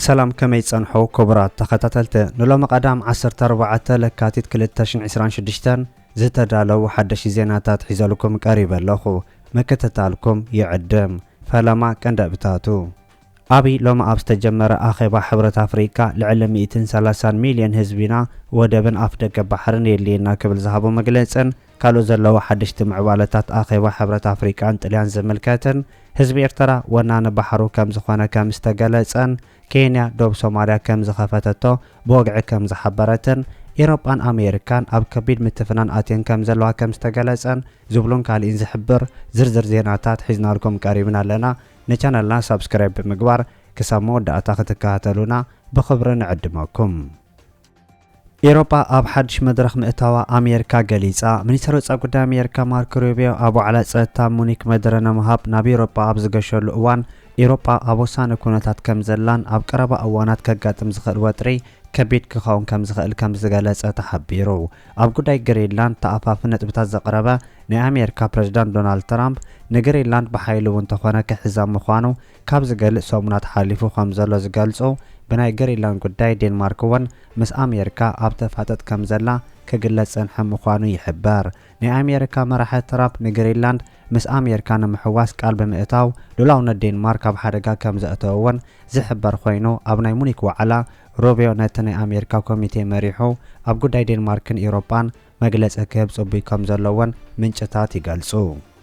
ሰላም ከመይ ጸንሑ ክቡራት ተኸታተልቲ ንሎሚ ቀዳም 14 ለካቲት 226 ዝተዳለው ሓደሽ ዜናታት ሒዘልኩም ቀሪበ ኣለኹ ምክትታልኩም ይዕድም ፈለማ ቀንደብታቱ ኣብይ ሎሚ ኣብ ዝተጀመረ ኣኼባ ሕብረት ኣፍሪቃ ልዕሊ ሚእትን ሰላሳን ሚልዮን ህዝቢና ወደብን ኣፍደገ ባሕርን የድልየና ክብል ዝሃቦ መግለጽን ካልኦት ዘለዉ ሓደሽቲ ምዕባለታት ኣኼባ ሕብረት ኣፍሪቃን ጥልያን ዝምልከትን ህዝቢ ኤርትራ ወናኒ ባሕሩ ከምዝኾነ ከምዝተገለጸን ኬንያ ዶብ ሶማልያ ከምዝኸፈተቶ ብወግዒ ከምዝሓበረትን ኤሮጳን ኣሜሪካን ኣብ ከቢድ ምትፍናን ኣትየን ከምዘለዋ ከምዝተገለጸን ዝብሉን ካሊእን ዝሕብር ዝርዝር ዜናታት ሒዝናልኩም ቀሪብና ኣለና። ንቻነልና ሳብስክራይብ ብምግባር ክሳብ መወዳእታ ክትከታተሉና ብኽብሪ ንዕድመኩም። ኤሮጳ ኣብ ሓድሽ መድረኽ ምእታዋ ኣሜርካ ገሊጻ። ሚኒስተር ወጻኢ ጉዳይ ኣሜርካ ማርክ ሩቢዮ ኣብ ዋዕላ ጸጥታ ሙኒክ መደረ ነምሃብ ናብ ኤሮጳ ኣብ ዝገሸሉ እዋን ኤሮጳ ኣብ ወሳኒ ኩነታት ከም ዘላን ኣብ ቀረባ እዋናት ከጋጥም ዝኽእል ወጥሪ ከቢድ ክኸውን ከም ዝኽእል ከም ዝገለጸ ተሓቢሩ። ኣብ ጉዳይ ግሪንላንድ ተኣፋፊ ነጥብታት ዘቕረበ ናይ ኣሜሪካ ፕረዚዳንት ዶናልድ ትራምፕ፣ ንግሪንላንድ ብሓይሊ እውን ተኾነ ክሕዛ ምዃኑ ካብ ዝገልጽ ሰሙናት ሓሊፉ ከም ዘሎ ዝገልጹ ብናይ ግሪንላንድ ጉዳይ ዴንማርክ እውን ምስ ኣሜሪካ ኣብ ተፋጥጥ ከም ዘላ ክግለጽ ዝጸንሐ ምዃኑ ይሕበር። ናይ ኣሜሪካ መራሒ ትራምፕ ንግሪንላንድ ምስ ኣሜሪካ ንምሕዋስ ቃል ብምእታው ሉላውነት ዴንማርክ ኣብ ሓደጋ ከም ዘእተወ እውን ዝሕበር ኮይኑ ኣብ ናይ ሙኒክ ዋዕላ ሩቢዮ ነቲ ናይ ኣሜሪካ ኮሚቴ መሪሑ ኣብ ጉዳይ ዴንማርክን ኢሮጳን መግለጺ ክህብ ጽቡይ ከም ዘሎ'ውን ምንጭታት ይገልጹ።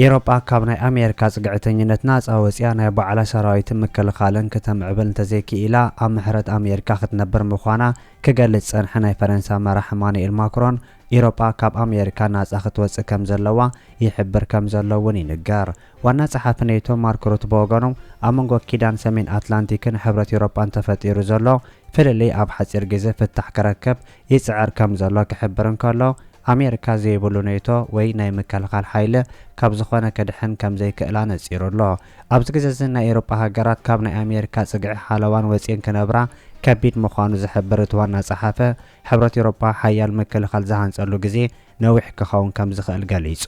ኢሮጳ ካብ ናይ ኣሜሪካ ጽግዕተኝነት ናጻ ወጺኣ ናይ ባዕላ ሰራዊትን ምክልኻልን ክተምዕብል እንተዘይክኢላ ኣብ ምሕረት ኣሜሪካ ክትነብር ምዃና ክገልጽ ዝጸንሐ ናይ ፈረንሳ መራሕ ኢማኑኤል ማክሮን ኢሮጳ ካብ ኣሜሪካ ናጻ ክትወጽእ ከም ዘለዋ ይሕብር ከም ዘሎ'ውን ይንገር። ዋና ጸሓፊ ኔቶ ማርክ ሩት ብወገኑ፣ ኣብ መንጎ ኪዳን ሰሜን ኣትላንቲክን ሕብረት ኤውሮጳን ተፈጢሩ ዘሎ ፍልልይ ኣብ ሓጺር ግዜ ፍታሕ ክረክብ ይጽዕር ከም ዘሎ ክሕብር እንከሎ፣ ኣሜሪካ ዘይብሉ ኔቶ ወይ ናይ ምክልኻል ሓይሊ ካብ ዝኾነ ክድሕን ከም ዘይክእል ኣነጺሩ ኣሎ። ኣብዚ ግዜ'ዚ ናይ ኤውሮጳ ሃገራት ካብ ናይ ኣሜሪካ ጽግዒ ሓለዋን ወጺኤን ክነብራ ከቢድ ምዃኑ ዝሕብር እቲ ዋና ጸሓፊ፣ ሕብረት ኤውሮጳ ሓያል ምክልኻል ዝሃንጸሉ ግዜ ነዊሕ ክኸውን ከም ዝኽእል ገሊጹ።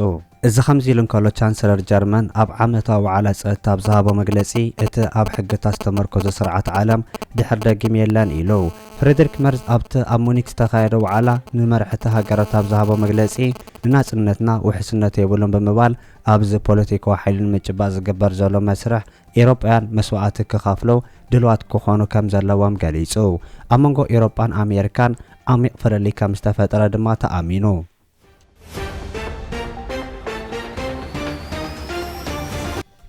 እዚ ከምዚ ኢሉ እንከሎ ቻንስለር ጀርመን ኣብ ዓመታዊ ዋዕላ ጸጥታ ኣብ ዝሃቦ መግለጺ እቲ ኣብ ሕግታት ዝተመርኮዘ ስርዓት ዓለም ድሕር ደጊም የለን ኢሉ። ፍሬድሪክ መርዝ ኣብቲ ኣብ ሙኒክ ዝተኻየደ ዋዕላ ንመራሕቲ ሃገራት ኣብ ዝሃቦ መግለጺ ንናጽነትና ውሕስነት የብሉን ብምባል ኣብዚ ፖለቲካዊ ሓይሊ ንምጭባጥ ዝግበር ዘሎ መስርሕ ኤውሮጳውያን መስዋእቲ ክኸፍሉ ድልዋት ክኾኑ ከም ዘለዎም ገሊጹ። ኣብ መንጎ ኤውሮጳን ኣሜሪካን ዓሚቕ ፍልልይ ከም ዝተፈጥረ ድማ ተኣሚኑ።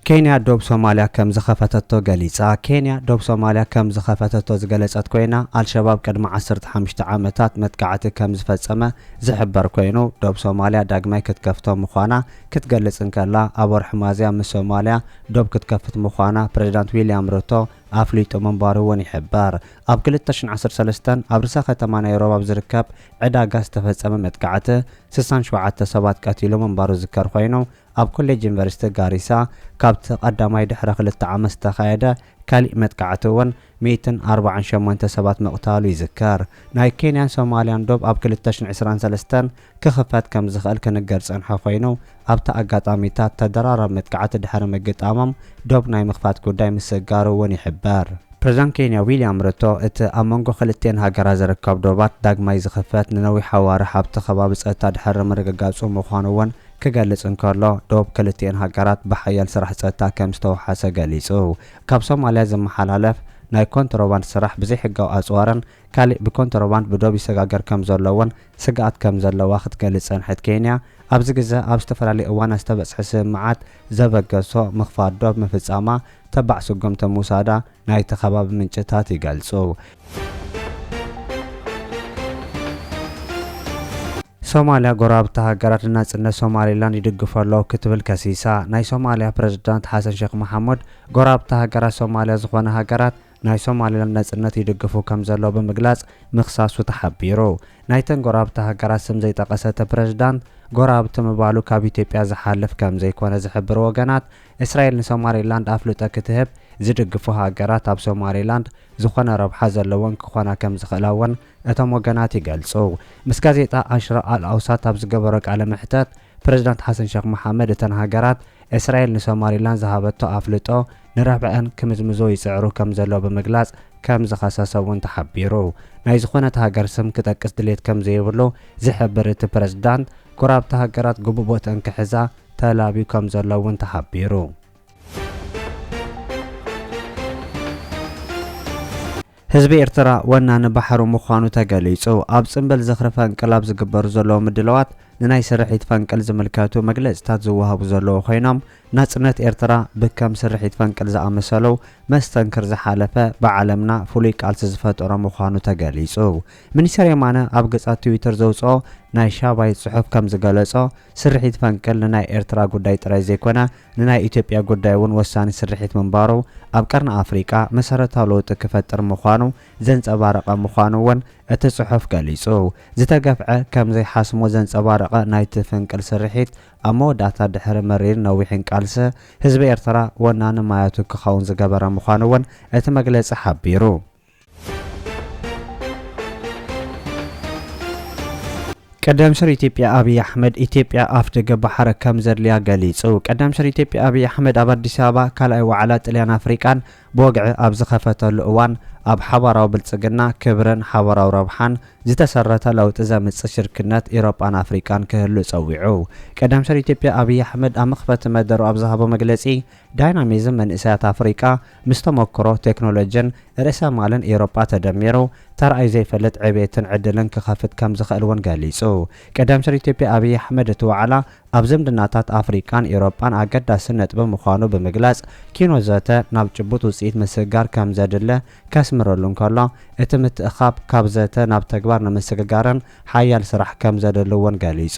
ኬንያ ዶብ ሶማልያ ከም ዝኸፈተቶ ገሊጻ ኬንያ ዶብ ሶማልያ ከም ዝኸፈተቶ ዝገለጸት ኮይና፣ ኣልሸባብ ቅድሚ ዓሰርተ ሓሙሽተ ዓመታት መጥቃዕቲ ከም ዝፈጸመ ዝሕበር ኮይኑ፣ ዶብ ሶማልያ ዳግማይ ክትከፍቶ ምዃና ክትገልጽ እንከላ፣ ኣብ ወርሒ ሚያዝያ ምስ ሶማልያ ዶብ ክትከፍት ምዃና ፕሬዚዳንት ዊልያም ሩቶ ኣፍሊጡ ምንባሩ'ውን ይሕበር። ኣብ ክልተ ሽሕን ዓሰርተ ሰለስተን ኣብ ርእሰ ከተማ ናይሮብ ኣብ ዝርከብ ዕዳጋ ዝተፈጸመ መጥቃዕቲ ስሳን ሸውዓተ ሰባት ቀቲሉ ምንባሩ ዝዝከር ኮይኑ፣ ኣብ ኮሌጅ ዩኒቨርሲቲ ጋሪሳ ካብቲ ቀዳማይ ድሕሪ ክልተ ዓመት ዝተኻየደ ካሊእ መጥቃዕቲ እውን ሚእትን ኣርባዓን ሸሞንተ ሰባት ምቕታሉ ይዝከር። ናይ ኬንያን ሶማሊያን ዶብ ኣብ ክልተ ሽሕን ዕስራን ሰለስተን ክኽፈት ከም ዝኽእል ክንገር ዝጸንሖ ኮይኑ፣ ኣብቲ ኣጋጣሚታት ተደራራቢ መጥቃዕቲ ድሕሪ ምግጣሞም ዶብ ናይ ምኽፋት ጉዳይ ምስግጋሩ እውን ይሕበር። ፕሬዝዳንት ኬንያ ዊልያም ሩቶ፣ እቲ ኣብ መንጎ ክልቲኤን ሃገራት ዝርከብ ዶባት ዳግማይ ዝኽፈት ንነዊሕ ኣዋርሕ ኣብቲ ከባቢ ጸጥታ ድሕሪ ምርግጋጹ ምዃኑ እውን ክገልጽ እንከሎ፣ ዶብ ክልቲኤን ሃገራት ብሓያል ስራሕ ጸጥታ ከም ዝተወሓሰ ገሊጹ። ካብ ሶማልያ ዝመሓላለፍ ናይ ኮንትሮባንድ ስራሕ ብዘይሕጋዊ ኣጽዋርን ካሊእ ብኮንትሮባንድ ብዶብ ይሰጋገር ከም ዘሎ እውን ስግኣት ከም ዘለዋ ክትገልጽ ዝጸንሐት ኬንያ፣ ኣብዚ ግዘ ኣብ ዝተፈላለዩ እዋናት ዝተበጽሐ ስምምዓት ዘበገሶ ምኽፋት ዶብ ምፍጻማ ተባዕ ስጉምቲ ምውሳዳ ናይቲ ከባቢ ምንጭታት ይገልጹ። ሶማልያ፣ ጎረባብቲ ሃገራት ንናጽነት ሶማሊላንድ ይድግፉ ኣለዉ ክትብል ከሲሳ። ናይ ሶማልያ ፕረዚዳንት ሓሰን ሼኽ መሓሙድ፣ ጎረባብቲ ሃገራት ሶማልያ ዝኾና ሃገራት፣ ናይ ሶማሊላንድ ናጽነት ይድግፉ ከምዘለዉ ብምግላጽ ምኽሳሱ ተሓቢሩ። ናይተን ጎረባብቲ ሃገራት ስም ዘይጠቐሰ እቲ ፕረዚዳንት፣ ጎረባብቲ ምባሉ ካብ ኢትዮጵያ ዝሓልፍ ከምዘይኮነ ዝሕብሩ ወገናት፣ እስራኤል ንሶማሊላንድ ኣፍልጦ ክትህብ ዝድግፉ ሃገራት ኣብ ሶማሊላንድ ዝኾነ ረብሓ ዘለወን ክኾና ከምዝኽእላ'ውን እቶም ወገናት ይገልጹ። ምስ ጋዜጣ ኣሽራቕ ኣል ኣውሳት ኣብ ዝገበሮ ቃለ መሕተት፣ ፕረዚዳንት ሓሰን ሸኽ መሓመድ እተን ሃገራት፣ እስራኤል ንሶማሊላንድ ዝሃበቶ ኣፍልጦ፣ ንረብሐኣን ክምዝምዞ ይጽዕሩ ከም ዘሎ ብምግላጽ ከም ዝኸሰሰ እውን ተሓቢሩ። ናይ ዝኾነት ሃገር ስም ክጠቅስ ድሌት ከም ዘይብሉ ዝሕብር እቲ ፕረዚዳንት፣ ጎረባብቲ ሃገራት ግቡእ ቦትኣን ክሕዛ ተላብዩ ከም ዘሎ እውን ተሓቢሩ። ህዝቢ ኤርትራ ወናኒ ባሕሩ ምዃኑ ተገሊጹ። ኣብ ጽምብል ዝኽሪ ፈንቅል ኣብ ዝግበሩ ዘለዉ ምድላዋት፣ ንናይ ስርሒት ፈንቅል ዝምልከቱ መግለጺታት ዝወሃቡ ዘለዉ ኮይኖም፣ ናጽነት ኤርትራ ብከም ስርሒት ፈንቅል ዝኣመሰሉ መስተንክር ዝሓለፈ ብዓለምና ፍሉይ ቃልሲ ዝፈጠሮ ምዃኑ ተገሊጹ። ሚኒስተር የማነ ኣብ ገጽ ኣብ ትዊተር ዘውጽኦ ናይ ሻባይት ጽሑፍ ከም ዝገለጾ፣ ስርሒት ፈንቅል ንናይ ኤርትራ ጉዳይ ጥራይ ዘይኮነ፣ ንናይ ኢትዮጵያ ጉዳይ እውን ወሳኒ ስርሒት ምንባሩ፣ ኣብ ቀርኒ ኣፍሪቃ መሰረታዊ ለውጢ ክፈጥር ምዃኑ ዘንጸባረቐ ምዃኑ እውን እቲ ጽሑፍ ገሊጹ። ዝተገፍዐ ከም ዘይሓስሞ ዘንጸባረቐ ናይቲ ፍንቅል ስርሒት፣ ኣብ መወዳእታ ድሕሪ መሪርን ነዊሕን ቃልሲ፣ ህዝቢ ኤርትራ ወናኒ ማያቱ ክኸውን ዝገበረ ምዃኑ እውን እቲ መግለጺ ሓቢሩ። ቀዳም ስር ኢትዮጵያ ኣብይ ኣሕመድ ኢትዮጵያ ኣፍ ደገ ባሕረ ከም ዘድልያ ገሊጹ። ቀዳም ስር ኢትዮጵያ ኣብይ ኣሕመድ ኣብ ኣዲስ ኣበባ ካልኣይ ዋዕላ ጥልያን ኣፍሪቃን ብወግዒ ኣብ ዝኸፈተሉ እዋን ኣብ ሓባራዊ ብልጽግና፣ ክብርን ሓባራዊ ረብሓን ዝተሰረተ ለውጢ ዘምጽእ ሽርክነት ኢሮጳን ኣፍሪቃን ክህሉ ጸዊዑ። ቀዳም ስር ኢትዮጵያ ኣብይ ኣሕመድ ኣብ መኽፈቲ መደሩ ኣብ ዝሃቦ መግለጺ፣ ዳይናሚዝም መንእሰያት ኣፍሪቃ ምስ ተመክሮ ቴክኖሎጅን ርእሰ ማልን ኤውሮጳ ተደሚሩ ተራእዩ ዘይፈልጥ ዕብየትን ዕድልን ክኸፍት ከም ዝኽእል እውን ገሊጹ። ቀዳም ሚኒስትር ኢትዮጵያ ኣብይ ኣሕመድ እቲ ዋዕላ ኣብ ዝምድናታት ኣፍሪቃን ኤውሮጳን ኣገዳሲ ነጥቢ ምዃኑ ብምግላጽ ኪኖ ዘተ ናብ ጭቡጥ ውጽኢት ምስግጋር ከም ዘድለ ከስምረሉ እንከሎ እቲ ምትእኽኻብ ካብ ዘተ ናብ ተግባር ንምስግጋርን ሓያል ስራሕ ከም ዘድሊ እውን ገሊጹ።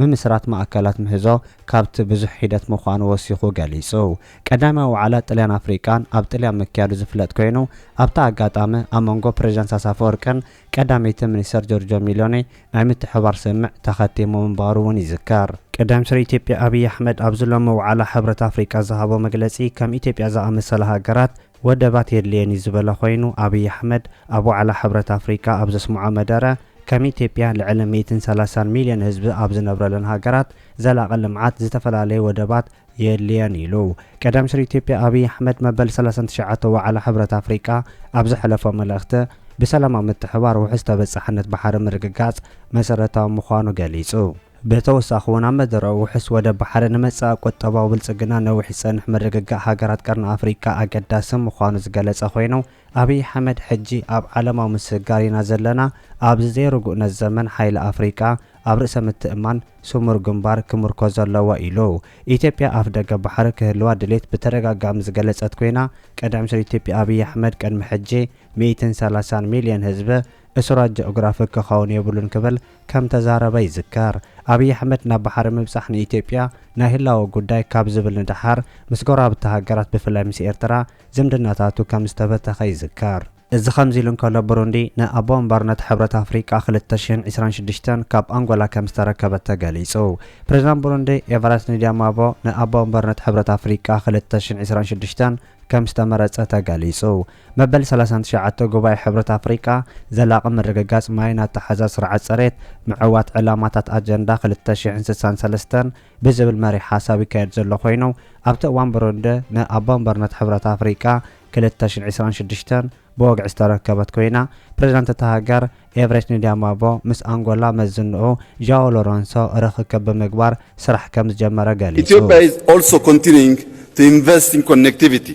ምምስራት ማእከላት ምህዞ ካብቲ ብዙሕ ሒደት ምዃኑ ወሲኹ ገሊጹ። ቀዳማይ ዋዕላ ጥልያን ኣፍሪቃን ኣብ ጥልያን ምክያዱ ዝፍለጥ ኮይኑ፣ ኣብቲ ኣጋጣሚ ኣብ መንጎ ፕረዚደንት ኢሳያስ ኣፈወርቅን ቀዳመይቲ ሚኒስተር ጆርጆ ሚሎኒ ናይ ምትሕብባር ስምምዕ ተኸቲሙ ምንባሩ እውን ይዝከር። ቀዳም ሚኒስትር ኢትዮጵያ ኣብይ ኣሕመድ ኣብዚ ሎሚ ዋዕላ ሕብረት ኣፍሪቃ ዝሃቦ መግለጺ፣ ከም ኢትዮጵያ ዝኣመሰላ ሃገራት፣ ወደባት የድልየን እዩ ዝበለ ኮይኑ፣ ኣብይ ኣሕመድ ኣብ ዋዕላ ሕብረት ኣፍሪቃ ኣብ ዘስምዖ መደረ፣ ከም ኢትዮጵያ ልዕሊ ሚእትን ሰላሳን ሚልዮን ህዝቢ ኣብ ዝነብረለን ሃገራት ዘላቒ ልምዓት ዝተፈላለየ ወደባት የድልየን ኢሉ። ቀዳም ሚኒስትር ኢትዮጵያ ኣብይ ኣሕመድ መበል ሰላሳን ትሽዓተ ዋዕላ ሕብረት ኣፍሪቃ ኣብ ዘሕለፎ መልእኽቲ፣ ብሰላማዊ ምትሕብባር ውሑስ ተበፃሕነት ባሕሪ ምርግጋፅ መሰረታዊ ምዃኑ ገሊፁ። ብተወሳኺ'ውን ኣብ መደረኡ ውሑስ ወደብ ባሕሪ ንመጻኢ ቁጠባዊ ብልጽግና ነዊሕ ዝጸንሕ ምርግጋእ ሃገራት ቀርኒ ኣፍሪቃ ኣገዳሲ ምዃኑ ዝገለጸ ኮይኑ፣ ኣብይ ኣሕመድ ሕጂ ኣብ ዓለማዊ ምስግጋር ኢና ዘለና፣ ኣብዚ ዘይርጉእነት ዘመን ሓይሊ ኣፍሪቃ ኣብ ርእሰ ምትእምማን ስሙር ግንባር ክምርኮዝ ኣለዎ ኢሉ። ኢትዮጵያ ኣፍደገ ባሕሪ ክህልዋ ድሌት ብተደጋጋሚ ዝገለጸት ኮይና፣ ቀዳምኒስትር ኢትዮጵያ ኣብይ ኣሕመድ ቅድሚ ሕጂ ሚእትን ሰላሳን ሚልዮን ህዝቢ እሱራት ጀኦግራፊክ ክኸውን የብሉን ክብል ከም ተዛረበ ይዝከር። ኣብይ ኣሕመድ ናብ ባሕሪ ምብጻሕ ንኢትዮጵያ ናይ ህላወ ጉዳይ ካብ ዝብል ንደሓር ምስ ጎረባብቲ ሃገራት ብፍላይ ምስ ኤርትራ ዝምድናታቱ ከም ዝተበተኸ ይዝከር። እዚ ከምዚ ኢሉ እንከሎ ብሩንዲ ንኣቦ ወንበርነት ሕብረት ኣፍሪቃ ክልተ ሽሕን ዕስራን ሽዱሽተን ካብ ኣንጎላ ከም ዝተረከበት ተገሊጹ። ፕሬዝዳንት ብሩንዲ ኤቫራስት ንዲያማቦ ንኣቦ ወንበርነት ሕብረት ኣፍሪቃ ክልተ ሽሕን ዕስራን ሽዱሽተን ከም ዝተመረጸ ተገሊጹ። መበል ሰላሳን ትሽዓተ ጉባኤ ሕብረት ኣፍሪቃ ዘላቒ ምርግጋጽ ማይን ኣተሓሕዛ ስርዓት ጽሬት፣ ምዕዋት ዕላማታት ኣጀንዳ ክልተ ሽሕን ስሳን ሰለስተን ብዝብል መሪሕ ሓሳብ ይካየድ ዘሎ ኮይኑ፣ ኣብቲ እዋን ብሩንዲ ንኣቦ ወንበርነት ሕብረት ኣፍሪቃ ክልተ ሽሕን ዕስራን ሽዱሽተን ብወግዒ ዝተረከበት ኮይና፣ ፕረዚዳንት እታ ሃገር ኤቨሬች ንዲያማቦ ምስ ኣንጎላ መዝንኡ ዣኦ ሎረንሶ ርኽክብ ብምግባር ስራሕ ከምዝጀመረ ገሊጹ። Ethiopia is also continuing to invest in connectivity.